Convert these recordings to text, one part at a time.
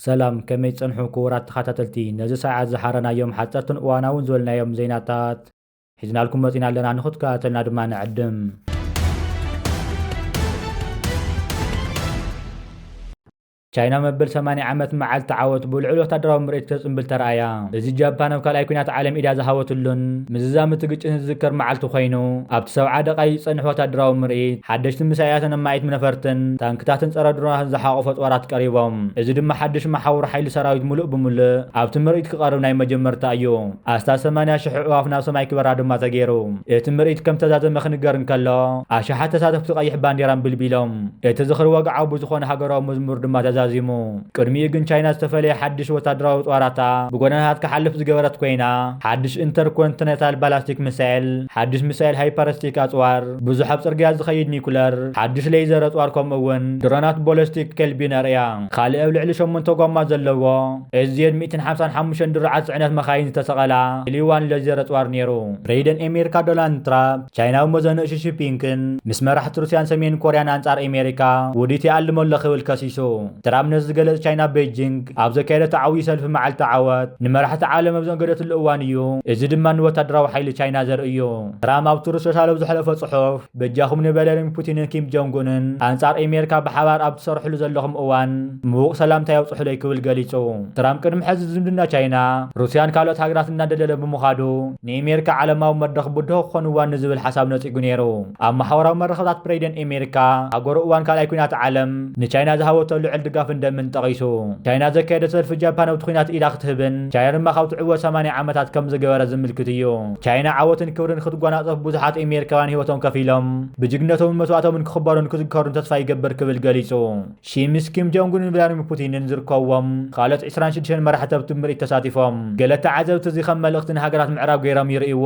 ሰላም ከመይ ጸንሑ ክቡራት ተኸታተልቲ ነዚ ሰዓት ዝሓረናዮም ሓጸርትን እዋናውን ዝበልናዮም ዜናታት ሒዝናልኩም መጺና ኣለና ንኽትከታተልና ድማ ንዕድም ቻይና መበል ሰማንያ ዓመት መዓልቲ ዓወት ብልዑል ወታደራዊ ምርኢት ከጽንብል ተራእያ። እዚ ጃፓን ኣብ ካልኣይ ኲናት ዓለም ኢዳ ዝሃበትሉን ምዝዛም እቲ ግጭትን ዝዝከር መዓልቲ ኮይኑ፣ ኣብቲ ሰብዓ ደቓይቅ ዝጸንሕ ወታደራዊ ምርኢት፣ ሓደሽቲ ሚሳይላትን ኣማኢት ነፈርትን፣ ታንክታትን ጸረ ድሮናትን ዝሓቖፈ ጾራት ቀሪቦም። እዚ ድማ ሓድሽ መሓውር ሓይሊ ሰራዊት ምሉእ ብምሉእ ኣብቲ ምርኢት ክቐርብ ናይ መጀመርታ እዩ። ኣስታት ሰማንያ ሽሕ ኣዕዋፍ ናብ ሰማይ ክበራ ድማ ተገይሩ። እቲ ምርኢት ከም ዝተዛዘመ ክንገር እንከሎ፣ ኣሽሓት ተሳተፍቲ ቀይሕ ባንዴራ ኣንቢልቢሎም። እቲ ዝኽሪ ወግዓዊ ብዝኾነ ሃገራዊ መዝሙር ድማ ተዛዚሙ። ቅድሚኡ ግን ቻይና ዝተፈለየ ሓድሽ ወታደራዊ ኣጽዋራታ ብጎደናታት ክሓልፍ ዝገበረት ኮይና፣ ሓድሽ ኢንተርኮንቲነታል ባላስቲክ ሚሳይል፣ ሓድሽ ሚሳይል ሃይፐርስቲክ ኣጽዋር፣ ብዙሕ ኣብ ጽርግያ ዝኸይድ ኒኩለር፣ ሓድሽ ሌይዘር ኣጽዋር ከምኡ'ውን ድሮናት ቦለስቲክ ከልቢ ነርእያ። ካልእ ኣብ ልዕሊ ሸሞንተ ጎማ ዘለዎ ኤስዜድ ሚእትን ሓምሳን ሓሙሽተን ድሩዓት ጽዕነት መካይን ዝተሰቐላ ኤሊ-ዋን ሌዜር ኣጽዋር ነይሩ። ፕሬዚደንት ኤሜሪካ ዶናልድ ትራፕ፣ ቻይናዊ መዘንኡ ሺ ሺፒንክን ምስ መራሕቲ ሩስያን ሰሜን ኮርያን ኣንጻር ኤሜሪካ ውዲት ይኣልም ኣሎ ክብል ከሲሱ። ትራምፕ ነዚ ዝገለጽ ቻይና ቤጂንግ ኣብ ዘካየደቶ ዓውዪ ሰልፊ መዓልቲ ዓወት ንመራሕቲ ዓለም ኣብ ዘእንገደትሉ እዋን እዩ፣ እዚ ድማ ንወታደራዊ ሓይሊ ቻይና ዘርኢ እዩ። ትራምፕ ኣብ ትሩዝ ሶሻል ኣብ ዘሕለፎ ጽሑፍ በጃኹም ንቨለሪሚ ፑቲንን ኪም ጆንግኡንን ኣንጻር ኤሜሪካ ብሓባር ኣብ ትሰርሕሉ ዘለኹም እዋን ምዉቕ ሰላምታይ ኣብጽሑለይ ክብል ገሊጹ። ትራምፕ ቅድሚ ሕዚ ዝምድና ቻይና፣ ሩስያን ካልኦት ሃገራትን እናደልደለ ብምዃዱ፣ ንኤሜሪካ ዓለማዊ መድረኽ ብድሆ ክኾንዋ ንዝብል ሓሳብ ነጺጉ ነይሩ። ኣብ ማሕበራዊ መራኸብታት ፕረይደን ኤሜሪካ ኣብ ጎረ እዋን ካልኣይ ኩናት ዓለም ንቻይና ዝሃበቶ ልዕል ድጋፍን ደምን ጠቒሱ ቻይና ዘካየደ ሰልፊ ጃፓን ኣብቲ ኩናት ኢዳ ክትህብን ቻይና ድማ ካብ ትዕወት ሰማንያ ዓመታት ከም ዝገበረ ዝምልክት እዩ። ቻይና ዓወትን ክብርን ክትጓናጸፍ ብዙሓት ኤሜሪካውያን ህይወቶም ከፊሎም ብጅግነቶምን መስዋእቶምን ክኽበሩን ክዝከሩን ተስፋ ይገብር ክብል ገሊጹ። ሺ ምስ ኪም ጆንግንን ቭላድሚር ፑቲንን ዝርከብዎም ካልኦት ዕስራን ሽዱሽተን መራሕቲ ኣብቲ ምርኢት ተሳቲፎም። ገለ ተዓዘብቲ እዚ ከም መልእኽቲ ንሃገራት ምዕራብ ገይሮም ይርእይዎ።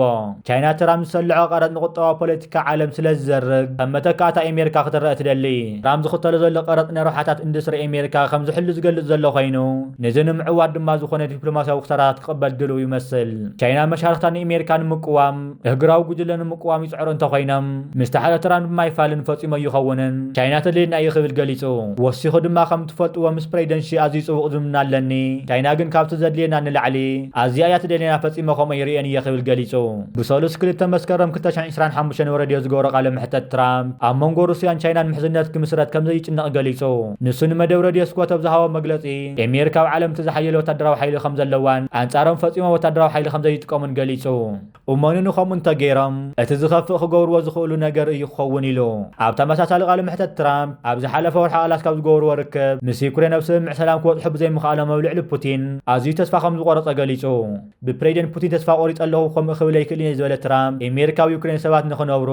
ቻይና ትራምፕ ዝሰለዖ ቀረጽ ንቁጠባዊ ፖለቲካ ዓለም ስለ ዝዘርግ፣ ከም መተካእታ ኤሜሪካ ክትረኣ ትደሊ። ትራምፕ ዝኽተሎ ዘሎ ቀረጽ ንረብሓታት ኢንዱስትሪ ኤሜሪካ ከም ዝሕሉ ዝገልጽ ዘሎ ኮይኑ፣ ነዚ ንምዕዋት ድማ ዝኾነ ዲፕሎማስያዊ ክሳራታት ክቕበል ድሉው ይመስል። ቻይና መሻርኽታ ንኤሜሪካ ንምቅዋም፣ እህግራዊ ጉጅለ ንምቅዋም ይጽዕሩ እንተኾይኖም፣ ምስ ተሓታትራን ብማይፋልን ፈጺሙ ኣይኸውንን። ቻይና ተድልየና እዩ ክብል ገሊጹ። ወሲኹ ድማ ከም ትፈልጥዎ ምስ ፕረይደንት ሺ ኣዝዩ ጽቡቕ ዝምድና ኣለኒ። ቻይና ግን ካብቲ ዘድልየና ንላዕሊ ኣዝያ እያ ትደልየና ፈጺመ ከምኡ ኣይርእዮን እየ ክብል ገሊጹ። ብሰሉስ ክልተ መስከረም ክልተ ሽሕን ዕስራን ሓሙሽተን ን ረድዮ ዝገበሮ ቃለ መሕተት ትራምፕ ኣብ መንጎ ሩስያን ቻይናን ምሕዝነት ክምስረት ከምዘይጭነቕ ገሊጹ። ንሱ ንመደብ ረድዮ ስኮተ ብዝሃቦ መግለጺ፣ ኤሚር ካብ ዓለም እቲ ዝሓየለ ወታደራዊ ሓይሊ ከም ዘለዋን ኣንጻሮም ፈጺሞም ወታደራዊ ሓይሊ ከም ዘይጥቀሙን ገሊጹ። እሞኒ ንኸምኡ እንተገይሮም እቲ ዝኸፍእ ክገብርዎ ዝኽእሉ ነገር እዩ ክኸውን ኢሉ። ኣብ ተመሳሳሊ ቃለ መሕተት ትራምፕ ኣብ ዝሓለፈ ወርሒ ኣላስካ ኣብ ዝገበርዎ ርክብ ምስ ዩክሬን ኣብ ስምምዕ ሰላም ክበጽሑ ብዘይምኽኣሎም ኣብ ልዕሊ ፑቲን ኣዝዩ ተስፋ ከም ዝቖረጸ ገሊጹ። ብፕሬዚደንት ፑቲን ተስፋ ቆሪጸ ኣለኹ ከምኡ ክብል ኣይክእልን እየ ዝበለ ትራምፕ፣ ኤሜሪካ ኣብ ዩክሬን ሰባት ንኽነብሩ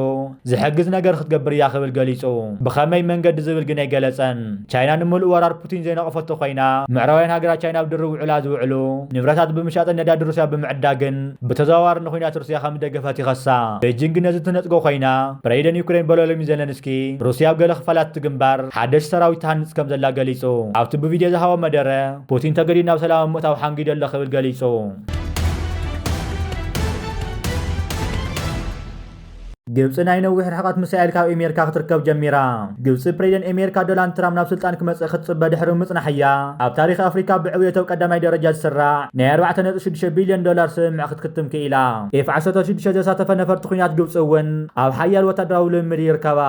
ዝሕግዝ ነገር ክትገብር እያ ክብል ገሊጹ። ብኸመይ መንገዲ ዝብል ግን ኣይገለጸን። ቻይና ንምሉእ ወራር ፑቲን ዘይነቐፈቶ ኮይና፣ ምዕራባውያን ሃገራት ቻይና ኣብ ድርብ ውዕላ ዝውዕሉ ንብረታት ብምሻጥን ነዳዲ ሩስያ ብምዕዳግን ብተዘዋዋሪ ንኩናት ሩስያ ከም ዝደገፈት ይኸሳ። ቤጂንግ ግን ነዚ ትነጽጎ ኮይና፣ ፕሬዚደንት ዩክሬን ቮሎድሚር ዘለንስኪ ሩስያ ኣብ ገለ ክፋላት እቲ ግንባር ሓደሽቲ ሰራዊት ትሃንጽ ከም ዘላ ገሊጹ ኣብቲ ብቪድዮ ዝሃቦ መደረ። ፑቲን ተገዲድ ናብ ሰላም ኣብ ምእታው ሓንጊደ ኣሎ ክብል ገሊጹ። ግብፂ ናይ ነዊሕ ርሕቐት ምሳኤል ካብ ኤሜርካ ክትርከብ ጀሚራ ግብፂ ፕሬዚደንት ኤሜርካ ዶናልድ ትራምፕ ናብ ስልጣን ክመፅእ ክትፅበ ድሕሪ ምፅናሕ እያ ኣብ ታሪክ ኣፍሪካ ብዕብየተው ቀዳማይ ደረጃ ዝስራዕ ናይ 4.6 ቢልዮን ዶላር ስምምዕ ክትክትም ክኢላ ኤፍ 16 ዘሳተፈ ነፈርቲ ኩናት ግብፂ እውን ኣብ ሓያል ወታደራዊ ልምምድ ይርከባ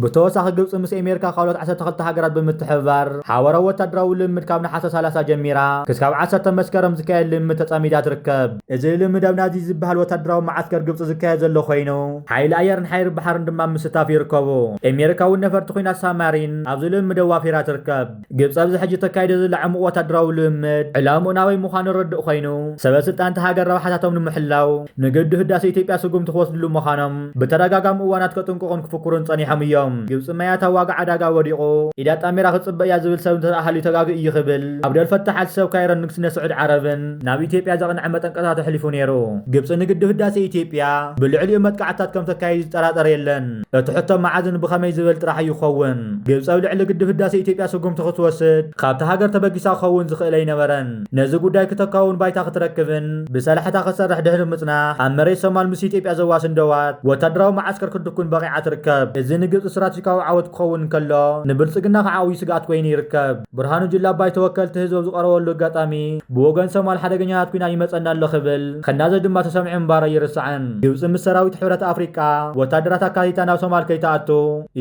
ብተወሳኺ ግብፂ ምስ ኤሜሪካ ካልኦት ዓሰርተ ክልተ ሃገራት ብምትሕብባር ሓበራዊ ወታደራዊ ልምምድ ካብ ነሓሰ ሰላሳ ጀሚራ ክስካብ ዓሰርተ መስከረም ዝካየድ ልምምድ ተፃሚዳ ትርከብ። እዚ ልምምድ ኣብ ናዚጅ ዝበሃል ወታደራዊ መዓስከር ግብፂ ዝካየድ ዘሎ ኮይኑ ሓይሊ ኣየርን ሓይሪ ባሕርን ድማ ኣብ ምስታፍ ይርከቡ። ኤሜሪካ እውን ነፈርቲ ኹናት ሳማሪን ኣብዚ ልምምድ ኣዋፊራ ትርከብ። ግብፂ ኣብዚ ሕጂ ተካይዶ ዘላ ዕሙቕ ወታደራዊ ልምምድ ዕላምኡ ናበይ ምዃኑ ርዱእ ኮይኑ ሰበ ስልጣን እታ ሃገር ረብሓታቶም ንምሕላው ንግድብ ህዳሴ ኢትዮጵያ ስጉምቲ ክወስድሉ ምዃኖም ብተደጋጋሚ እዋናት ከጥንቅቑን ክፍክሩን ፀኒሖም እዮም። ግብፂ መያታ ዋጋ ዕዳጋ ወዲቑ ኢድ ኣጣሚራ ክትፅበ እያ ዝብል ሰብ እንተድኣ ሃልዩ ተጋግዩ እዩ ክብል ዓብደል ፈታሕ ኣል ሰብ ካይሮን ንግስነት ስዑድ ዓረብን ናብ ኢትዮጵያ ዘቕንዐ መጠንቀቕታ ተሕሊፉ ነይሩ። ግብፂ ንግድብ ህዳሴ ኢትዮጵያ ብልዕሊኡ መጥቃዕትታት ከምተካይድ ዝጠራጠር የለን። እቲ ሕቶ መዓዝን ብኸመይ ዝበል ጥራሕ እዩ ክኸውን። ግብጺ ኣብ ልዕሊ ግድብ ህዳሴ ኢትዮጵያ ስጉምቲ ክትወስድ ካብታ ሃገር ተበጊሳ ክኸውን ዝኽእል ኣይነበረን። ነዚ ጉዳይ ክተካውን ባይታ ክትረክብን ብሰላሕታ ክትሰርሕ ድሕሪ ምጽናሕ ኣብ መሬት ሶማል ምስ ኢትዮጵያ ዘዋስን ዶባት ወታደራዊ መዓስከር ክትድኩን በቒዓ ትርከብ። እዚ ንግብጺ ስትራተጂካዊ ዓወት ክኸውን እንከሎ ንብልጽግና ከዓ ዓብዩ ስግኣት ኮይኑ ይርከብ። ብርሃኑ ጁላ ባይቶ ወከልቲ ህዝቢ ኣብ ዝቐረበሉ ኣጋጣሚ ብወገን ሶማል ሓደገኛታት ኲናት ይመጸና ኣሎ ክብል ክናዘዝ ድማ ተሰሚዑ ምንባሩ ኣይርሳዕን። ግብጺ ምስ ሰራዊት ሕብረት ኣፍሪቃ ወታደራት ኣካቲታ ናብ ሶማል ከይትኣቱ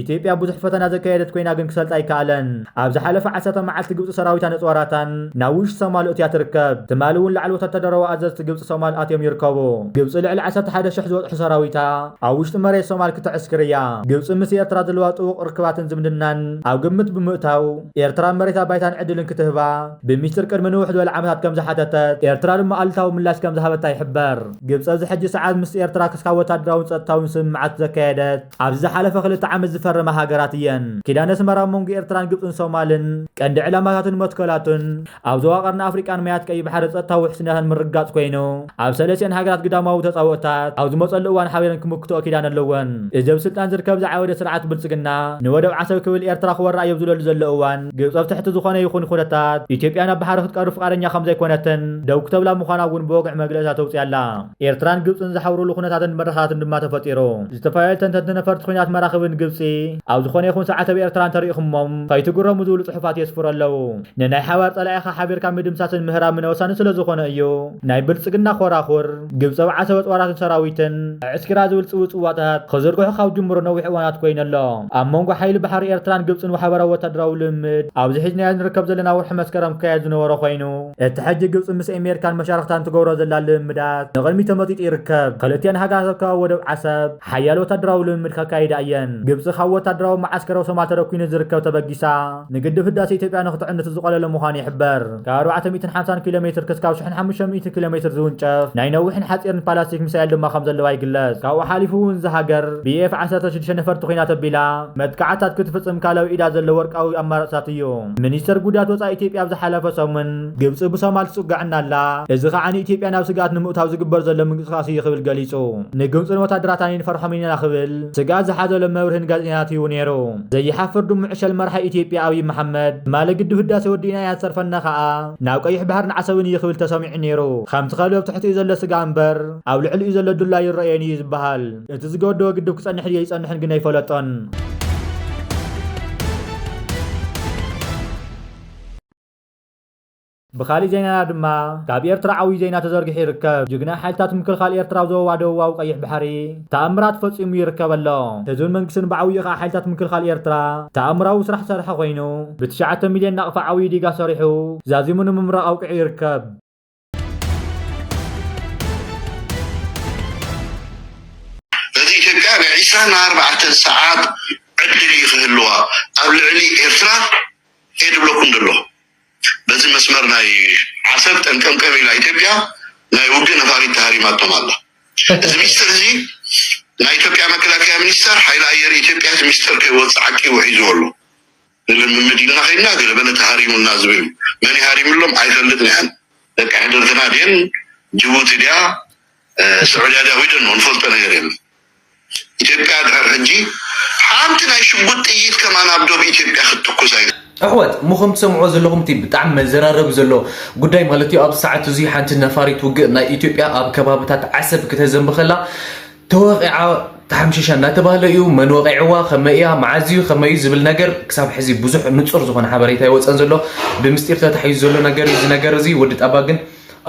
ኢትዮጵያ ብዙሕ ፈተና ዘካየደት ኮይና ግን ክሰልጣ ኣይከኣለን። ኣብ ዝሓለፈ ዓሰርተ መዓልቲ ግብጺ ሰራዊታን ኣጽዋራታን ናብ ውሽጢ ሶማል ኣእትያ ትርከብ። ትማሊ እውን ላዕሊ ወታደራዊ ኣዘዝቲ ግብጺ ሶማል ኣትዮም ይርከቡ። ግብጺ ልዕሊ ዓሰርተ ሓደ ሽሕ ዝበጽሑ ሰራዊታ፣ ኣብ ውሽጢ መሬት ሶማል ክተዕስክር እያ። ግብጺ ምስ ኤርትራ ዘለዋ ጥቡቕ ርክባትን ዝምድናን ኣብ ግምት ብምእታው፣ ኤርትራ መሬታ ባይታን ዕድልን ክትህባ ብሚስጢር ቅድሚ ንውሕ ዝበለ ዓመታት ከም ዝሓተተት፣ ኤርትራ ድማ ኣሉታዊ ምላሽ ከም ዝሃበታ ይሕበር። ግብጺ ኣብዚ ሕጂ ሰዓት ምስ ኤርትራ ክስካብ ወታደራውን ጸጥታውን ስምምዓት ዘካየደት፣ ኣብዚ ዝሓለፈ ክልተ ዓመት ዝፈረማ ሃገራት እየን። ኪዳን ኣስመራ ኣብ መንጎ ኤርትራን ግብጽን ሶማልን ቀንዲ ዕላማታቱን መትከላቱን፣ ኣብ ዞባ ቀርኒ ኣፍሪቃን ማያት ቀይሕ ባሕሪ ጸጥታዊ ውሕስነታ ንምርግጋጽ ኮይኑ፣ ኣብ ሰለስቲኣን ሃገራት ግዳማዊ ተጻብኦታት ኣብ ዝመጸሉ እዋን ሓቢረን ክምክትኦ ኪዳን ኣለወን። እዚ ኣብ ስልጣን ዝርከብ ዝዓወደ ስርዓት ብልጽግና፣ ንወደብ ዓሰብ ክብል ኤርትራ ክወራ እዮ ኣብ ዝብለሉ ዘሎ እዋን፣ ግብጺ ኣብ ትሕቲ ዝኾነ ይኹን ኩነታት ኢትዮጵያ ናብ ባሕሪ ክትቀርብ ፍቓደኛ ከምዘይኮነትን ደው ክተብላ ምዃና እውን ብወግዒ መግለጺታት ተውጽእ ኣላ። ኤርትራን ግብጽን ዝሓብሩሉ ኩነታትን መድረኻትን ድማ ተፈጢሩ። ዝተፈላለዩ ተንተንቲ ነፈርቲ ኩናት መራኽብን ግብጺ ኣብ ዝኾነ ይኹን ሰዓት ኣብ ኤርትራ እንተሪእኹሞም ከይትግረሙ ዝብሉ ጽሑፋት የስፍሩ ኣለዉ። ንናይ ሓባር ጸላኢኻ ሓቢርካ ምድምሳስን ምህራምን ወሳኒ ስለዝኾነ እዩ ናይ ብልጽግና ኮራኹር ግብጺ ኣብ ዓሰበ ጦራትን ሰራዊትን ኣዕስኪራ ዝብል ጽውጽዋታት ክዝርግሑ ካብ ዝጅምሩ ነዊሕ እዋናት ኮይኑ ኣሎ። ኣብ መንጎ ሓይሊ ባሕሪ ኤርትራን ግብጽን ሓበራዊ ወታደራዊ ልምምድ ኣብዚ ሒዝናዮ ንርከብ ዘለና ወርሒ መስከረም ክካየድ ዝነበሮ ኮይኑ፣ እቲ ሕጂ ግብጺ ምስ ኤሜሪካን መሻርኽታን ትገብሮ ዘላ ልምምዳት ንቕድሚት ተመጢጡ ይርከብ። ክልቲኣን ሃገራት ኣብ ከባቢ ወደብ ዓሰብ ሓያለ ወታደራዊ ልምምድ ከካይዳ እየን። ግብጺ ካብ ወታደራዊ መዓስከር ኣብ ሶማል ተደኲኑ ዝርከብ ተበጊሳ ንግድብ ህዳሰ ኢትዮጵያ ንኽትዕንድት ዝቖለለ ምዃኑ ይሕበር። ካብ ኣርባዕተ ሚእትን ሓምሳን ኪሎ ሜትር ክስካብ ሽሕን ሓሙሽተ ሚእቲ ኪሎ ሜትር ዝውንጨፍ ናይ ነዊሕን ሓጺርን ፓላስቲክ ሚሳኤል ድማ ከምዘለዋ ይግለጽ። ካብኡ ሓሊፉ እውን እዛ ሃገር ብኤፍ ዓሰርተ ሽዱሽተ ነፈርቲ ኲናት ኣቢላ መጥቃዕትታት ክትፍጽም ካላዊ ኢዳ ዘሎ ወርቃዊ ኣማራጺታት እዩ። ሚኒስተር ጉዳያት ወጻኢ ኢትዮጵያ ኣብ ዝሓለፈ ሰሙን ግብጺ ብሶማል ትጽገዐና ኣላ፣ እዚ ከኣ ንኢትዮጵያ ናብ ስግኣት ንምእታው ዝግበር ዘሎ ምንቅስቓስ እዩ ክብል ገሊጹ። ንግብጽን ወታደራታን ኣይንፈርሖምን ኢና ክብል ስግኣት ዝሓዘሎም መብርሂ ንጋዜጠኛታት ሂቡ ነይሩ። ዘይሓፍር ድሙ ዕሸል መራሒ ኢትዮጵያ ኣብይ መሓመድ፣ ትማሊ ግድብ ህዳሰ ወዲእና ኢና ዝተርፈና ከኣ ናብ ቀይሕ ባሕርን ዓሰብን እዩ ክብል ተሰሚዑ ነይሩ። ከምቲ ከልቢ ኣብ ትሕቲኡ ዘሎ ስጋ እምበር ኣብ ልዕሊኡ ዘሎ ዱላ ኣይረኣዮን እዩ ዝበሃል። እቲ ዝገደቦ ግድብ ክጸንሕ ድዩ ኣይጸንሕን ግን ኣይፈለጦን። ብኻሊእ ዜናና ድማ ካብ ኤርትራ ዓብዩ ዜና ተዘርጊሑ ይርከብ። ጅግና ሓይልታት ምክልኻል ኤርትራ ኣብ ዞባ ደቡባዊ ቀይሕ ባሕሪ ተኣምራት ፈጺሙ ይርከብ ኣሎ። ህዝብን መንግስትን ብዓብዩ ከኣ ሓይልታት ምክልኻል ኤርትራ ተኣምራዊ ስራሕ ዝሰርሐ ኮይኑ ብትሽዓተ ሚልዮን ናቕፋ ዓብዩ ዲጋ ሰሪሑ ዛዚሙ ንምምራቕ ኣብቂዑ ይርከብ። ነቲ ኢትዮጵያ ናይ ዕስራን ኣርባዕተን ሰዓት ዕድል እዩ ክህልዋ ኣብ ልዕሊ ኤርትራ እየ ድብለኩም ደለኹ። በዚ መስመር ናይ ዓሰብ ጠንቀምቀም ኢላ ኢትዮጵያ ናይ ውግእ ነፋሪት ተሃሪማቶም ኣላ። እዚ ሚስጥር እዚ ናይ ኢትዮጵያ መከላከያ ሚኒስተር፣ ሓይሊ ኣየር ኢትዮጵያ እቲ ሚስጥር ከይወጽእ ዓቂቡ ሒዝዎ ኣሎ። ንልምምድ ኢልና ከይድና ገለ በለ ተሃሪሙና ዝበዩ መን ይሃሪምሎም ኣይፈልጥን ያኣን ደቂ ሕድርትና ድየን ጅቡቲ ድያ ስዑድያ ድያ ዊደኖ ንፈልጦ ነገር የለን ኢትዮጵያ ድሕር ሕጂ ሓንቲ ናይ ሽጉጥ ጥይት ከማን ኣብ ዶብ ኢትዮጵያ ክትትኩስ ኣይ ኣሕዋት እሞ ከም ትሰምዕዎ ዘለኹም እቲ ብጣዕሚ መዘራረቢ ዘሎ ጉዳይ ማለት እዩ ኣብዚ ሰዓት እዙይ ሓንቲ ነፋሪት ውግእ ናይ ኢትዮጵያ ኣብ ከባብታት ዓሰብ ክተዘንቢ ከላ ተወቒዓ ተሓምሺሻ እናተባህለ እዩ። መን ወቒዕዋ፣ ከመይ እያ፣ መዓዝ እዩ፣ ከመይ እዩ ዝብል ነገር ክሳብ ሕዚ ብዙሕ ንጹር ዝኾነ ሓበሬታ ኣይወጸን ዘሎ። ብምስጢር ተታሒዙ ዘሎ ነገር እዩ። እዚ ነገር እዚ ወዲ ጣባ ግን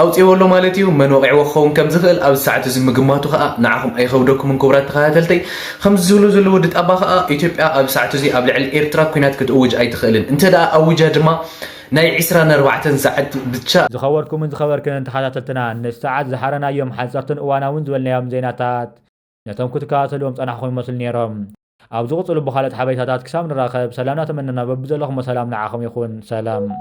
ኣውጺእዎ ኣሎ ማለት እዩ። መን ወቒዕዎ ክኸውን ከም ዝኽእል ኣብዚ ሰዓት እዚ ምግማቱ ከኣ ንዓኹም ኣይኸብደኩምን ክቡራት ተኸታተልተይ። ከምዚ ዝብሉ ዘሎ ወዲ ጣባ ከኣ ኢትዮጵያ ኣብዚ ሰዓት እዚ ኣብ ልዕሊ ኤርትራ ኲናት ክትእውጅ ኣይትኽእልን፣ እንተ ኣዊጃ ድማ ናይ ዕስራን ኣርባዕተን ሰዓት ብቻ። ዝኸበርኩምን ዝኸበርክንን ተኸታተልትና ነቲ ሰዓት ዝሓረናዮም ሓጸርትን እዋናውን ዝበልናዮም ዜናታት ነቶም ክትከታተልዎም ዝጸናሕኹም ይመስሉ ኔሮም። ኣብ ዝቕጽሉ ብኻልኦት ሓበሬታታት ክሳብ ንራኸብ ሰላምና ተመነና በብዘለኹሞ ሰላም ንዓኹም ይኹን ሰላም።